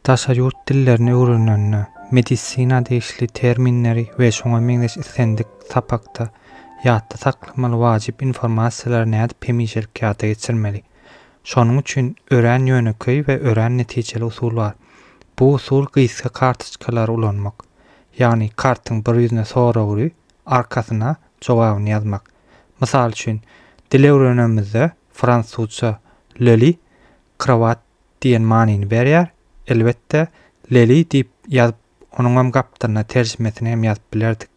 Daşary ýurt dillerini öwrenende, medisina degişli terminleri we şoňa meňzeş islendik sapakda ýatda saklamaly wajyp informasiýalary nädip hemişelik ýada geçirmeli? Şonuň üçin örän ýönekeý we örän netijeli usul bar. Bu usul gysga kartoçkalary ulanmak. Ýagny kartyň bir ýüzüne sorag ury, arkasyna jogabyny ýazmak. Mysal üçin, dil öwrenemizde, fransuzça, Loli, Krowat diýen manyny berýär. Elbetde, leli diýip ýazyp, onuňam gapdalyna terjimesini hem ýazyp bilerdik.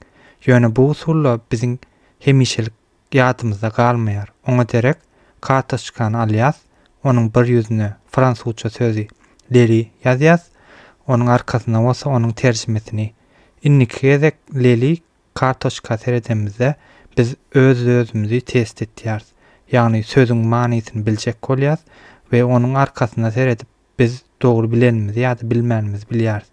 Ýöne bu usul-da biziň hemişelik ýadymyzda galmaýar. Oňa derek, kartoçkany alýas, onuň bir ýüzüne fransuzça sözi leli ýazýas, onuň arkasyna bolsa onuň terjimesini. Indiki gezek leli Kartoçka seredemizde biz öz-özümizi test etýäris. Ýagny sözüň manysyny biljek bolýas we onuň arkasyna seredip biz dogry bilenimizi ýa-da bilmänimizi bilýäris.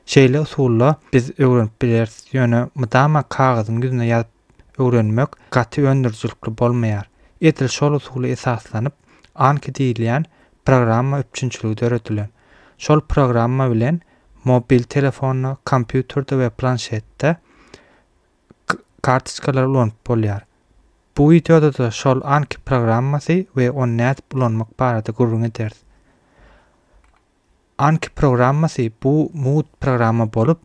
Şeýle usulla biz öwrenip bileris, ýöne mydama kagyzyň ýüzüne ýazyp öwrenmek gaty öndürijilikli bolmaýar. Edil şol usula esaslanyp Anki diýilýän programma üpjünçiligi döredilen. Şol programma bilen mobil telefonda, kompýuterde we planşetde kartoçkalary ulanyp bolýar. Bu wideoda-da şol Anki programmasy we ony nädip ulanmak barada gürrüň ederis. Anki programmasy bu mugt programma bolup,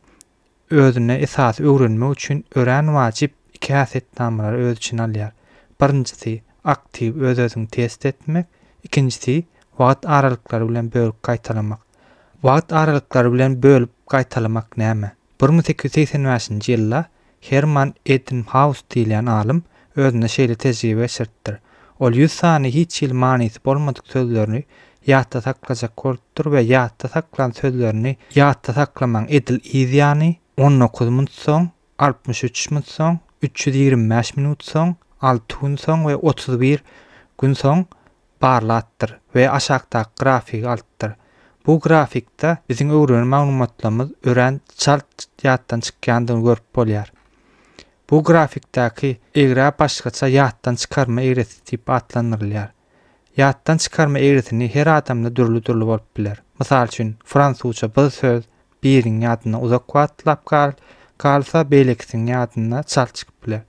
özüne esasy öwrenmek üçin örän wajyp iki häsiýetnamalary öz içine alýar. Birinjisi, aktiw öz-özüňi test etmek, ikinjisi, wagt aralyklary bilen bölüp gaýtalamak. Wagt aralyklary bilen bölüp gaýtalamak näme? Bir müň sekiz ýüz segsen bäşinji ýylda Herman Ebbinghaus diýilýän alym özünde şeýle tejribe geçiripdir. Ol ýüz sany hiç hili manysy bolmadyk sözlerini ýatda saklajak bolupdyr we ýatda saklan sözlerini ýatda saklamaň edil yz ýany, on dokuz munt soň, altmyş üç munt soň, üç ýüz ýigrimi bäş minut soň, alty gün soň we otuz bir gün soň barlapdyr we aşakdaky grafigi alypdyr. Bu grafikde biziň öwrenen maglumatlarymyz örän çalt ýatdan çykýandygyny görüp bolýar. Bu grafikdäki egra başgaça ýatdan çykarma egresi diýip atlandyrylýar. Ýatdan çykarma egrisini her adamda dürli-dürli bolup biler. Mysal üçin, fransuzça bir söz biriň ýadynda uzak wagtlap galyp galsa, beýlekisiniň ýadynda çalt çykyp biler.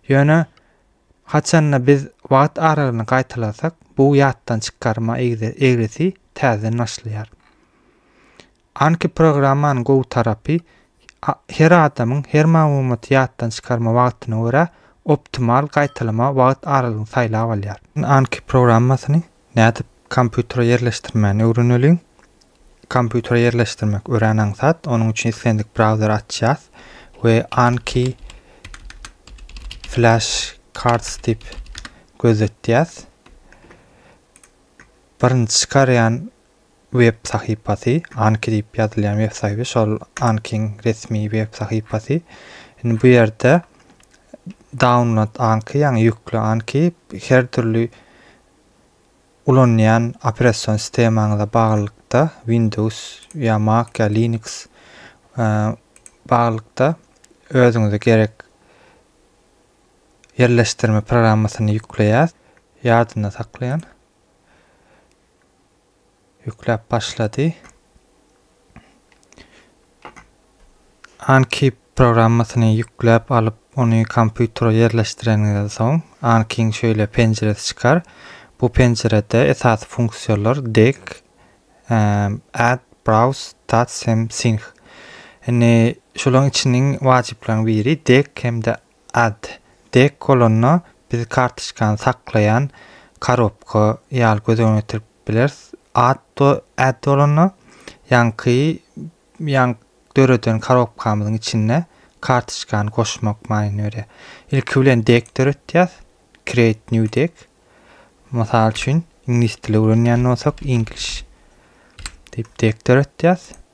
Ýöne haçanda biz wagt aralygyny gaýtalasak, bu ýatdan çykarma egresi täzeden başlaýar. Anki programmanyň gowy tarapy, her adamyň her maglumaty ýatdan çykarma wagtyna görä optimal gaýtalama wagt aralygyny saýlap alýar. Anki programmasyny nädip kompýutere ýerleşdirmäni öwreneliň. Kompýutere ýerleşdirmek örän aňsat. Onuň üçin islendik brauzeri açýas we Anki Flash Cards diýip gözletýäs. Birinji çykarýan web sahypasy, Anki diýip ýazylýan web sahypy, şol Ankiň resmi web sahypasy. Indi bu ýerde download Anki, ýagny ýükle Anki, her dürli ulanýan operasion sistemaňyza baglylykda, Windows ýa Mac ýa Linux baglylykda özüňize gerek ýerleşdirme programmasyny ýükleýär. Ýadynda saklaýan. Ýükläp başlady. Anki programmasyny ýükläp alyp, ony kompýutere ýerleşdireniňizden soň, Anki-iň şeýle penjiresi çykar. Bu penjirede esasy funksiýalar Deg, Add, Browse, Tats hem Sync. Indi şolaryň içiniň wajyplaryň biri Deg hem-de Ad. Dek bolanda biz kartoçkany saklaýan korobka ýaly göz öňüne getirip bileris. Ad. Ad bolanda ýaňky ýaňky döreden korobkamyzyň içinde kartoçkany goşmak manyny berýär. Ilki bilen dek döretýäs. Create new dek. Mysal üçin, iňlis dili öwrenýän bolsak, English diýip dek döretýäs.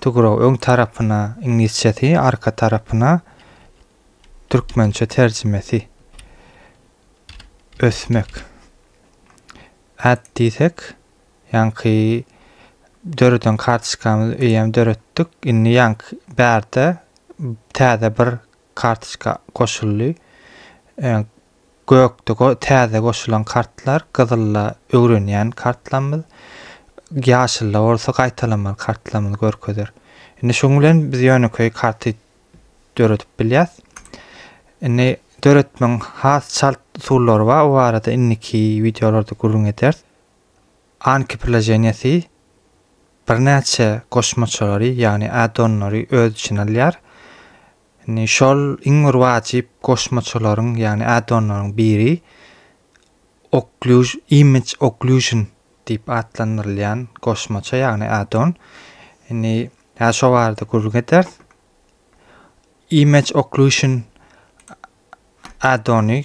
To grow, öň tarapyna, iňlisçesi, arka tarapyna, türkmençe terjimesi. Ösmek. Add diýsek, ýaňky döreden kartoçkamyzy eýýäm döretdik. Indi ýaňky bärde täze bir kartoçka goşuldy. Gökde täze goşulan kartlar, gyzylda öwrenýän kartlarymyz, ýaşylda bolsa gaýtalamaly kartlarymyzy görkezer. Indi şuň bilen biz ýönekeý karty döredip bilýäs. Indi döretmegiň has çalt usullary bar, o barada indiki wideolarda gürrüň ederis. Anki priloženiýasy birnäçe goşmaçalary, ýagny addonlary öz içine alýar. Indi şol iň bir wajyp goşmaçalaryň, ýagny add-onlaryň biri Occlusion, Image Occlusion diýip atlandyrylýan goşmaça, ýagny add-on. Indi häzir şo barada gürrüň ederis. Image Occlusion add-ony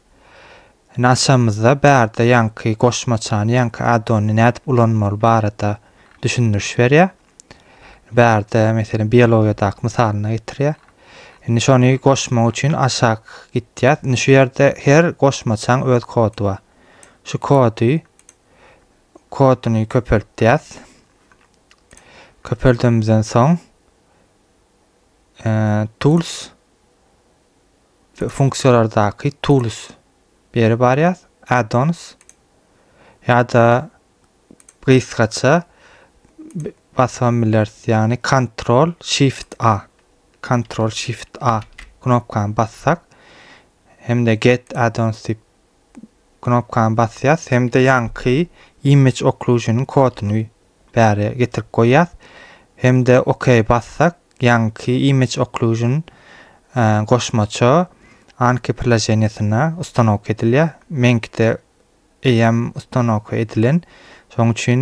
Indi açamyzda bärde ýaňky goşmaçany, ýaňky addony nädip ulanmaly barada düşündiriş berýär. Bärde meselem biologiýadaky mysalyny getirýär. Indi şony goşmak üçin aşak gitýär. Indi şu ýerde her goşmaçaň öz kody bar. Şu kody koduny köpeltýäs. Köpeldimizden soň e, tools funksiýalardaky tools beri barýas addons ýa-da gysgaça basan bileris ýagny control shift a control shift a knopkany bassak hem-de get addons diýip knopkany basýas hem-de ýaňky image occlusion koduny bäri getirip goýýas hem-de ok bassak ýaňky image occlusion goşmaça anki priloženiýasyna ustanowka edilýär meňkide eýýäm ustanowka edilen şoň üçin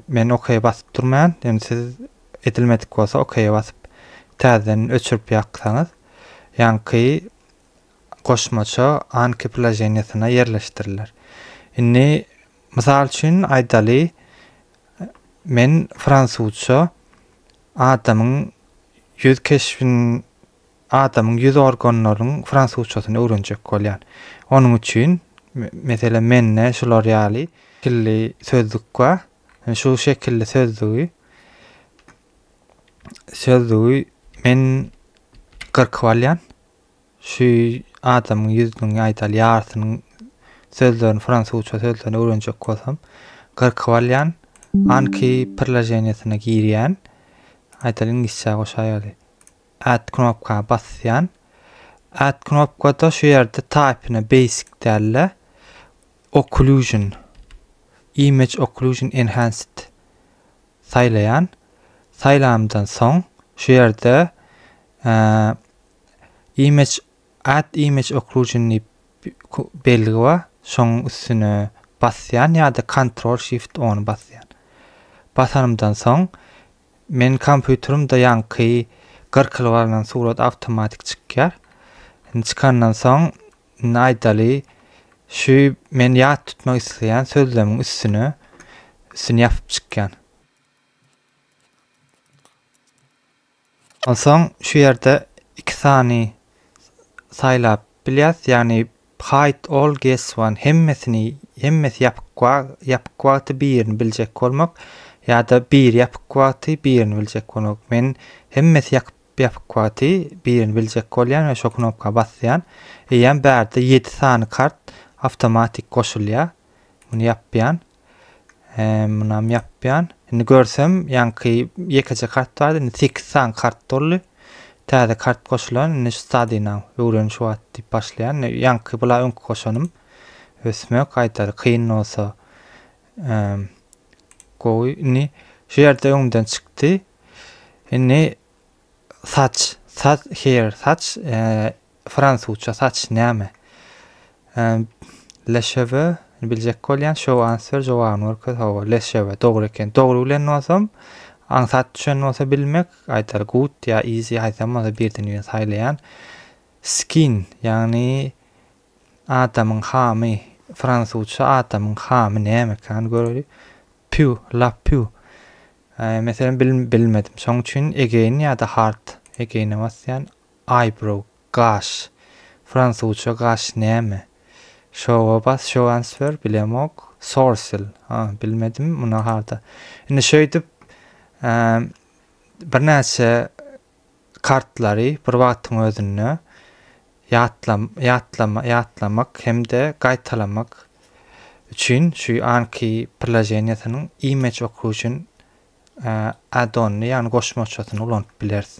men ok basyp durmaýan ýöne siz edilmedik bolsa ok basyp täzeden öçürip ýaksaňyz ýaňky goşmaça anki ploženiýasyna ýerleşdiriler. Indi, mysal üçin aýdaly, men fransuzça adamyň ýüz keşbin, adamyň ýüz organlarynyň fransuzçasyny öwrenjek bolýan. Onuň üçin, meselem, mende şular ýaly şekilli sözlük bar. Şu şekilli sözlügi sözlügi men gyrkyp alýan. Şu adamyň ýüzüniň, aýdaly, ýarysynyň sözlerini, fransuzça sözlerini öwrenjek bolsam, gyrkyp alýan, anki prilojeniýasyna girýän, aýdaly, iňlisçä goşa ýaly, add knopka basýan, add knopkada şu ýerde typyna basic däl-de, occlusion, image occlusion enhanced saýlaýan, saýlanymdan soň, şu ýerde Image Add Image Occlusion diýip belgi bar. Şoň üstüne basýan ýa-da Ctrl Shift ony basýan. Basanymdan soň men kompýuterimde ýaňky gyrkyly barlan surat awtomatik çykýar. Indi çykandan soň indi aýdaly şu men ýat tutmak isleýän sözlemiň üstüne üstüni ýapyp çykýan. Onsoň şu ýerde iki sany saýlap bilýäs, ýagny hide all guess one hemmesini hemmesi ýapyk ýapyk wagty birini biljek bolmak ýa-da biri ýapyk wagty birini biljek bolmak. Men hemmesi ýapyk ýapyk wagty birini biljek bolýan we şo knopka basýan. Eýýäm bärde ýedi sany kart awtomatik goşulýar. Muny ýapýan. Eee munam ýapýan. Indi görsem ýaňky ýekeje kart bardy. Indi 8 sany kart doldy. Täze kart goşulan. Indi şu stadina öwren şu wagt diýip başlaýan. Ýaňky bula öňki goşanym. Ösmek gaýtar kyn bolsa. Eee gowy. Indi şu ýerde öňden çykdy. Indi Saç, saç, hair, saç, fransuzça saç näme? Le cheveux, biljek bolýan, show answer, jogabyny görkez, hawa, le cheveux, dogry eken. Dogry bilen bolsam, aňsat düşen bolsa bilmek, aýdar good ýa easy, haýsam bolsa birden birini saýlaýan. Skin, ýagny adamyň hamy, fransuzça adamyň hamy näme ekany göreli. Püw, lap püw. Meselem, bil, bilmedim. Şoň üçin again ýa-da hard again-e basýan. Eyebrow, gaş. Fransuzça gaş näme? Show-a bas, show answer, bilemok. Sourcil, ha, bilmedim, muny harda. Indi şeýdip, eee, birnäçe kartlary bir wagtyň özünde ýatlamak hem-de gaýtalamak üçin şu anki prilojeniýesiniň image okuw üçin add-onyny, ýagny goşmaçasyny ulanyp bileris.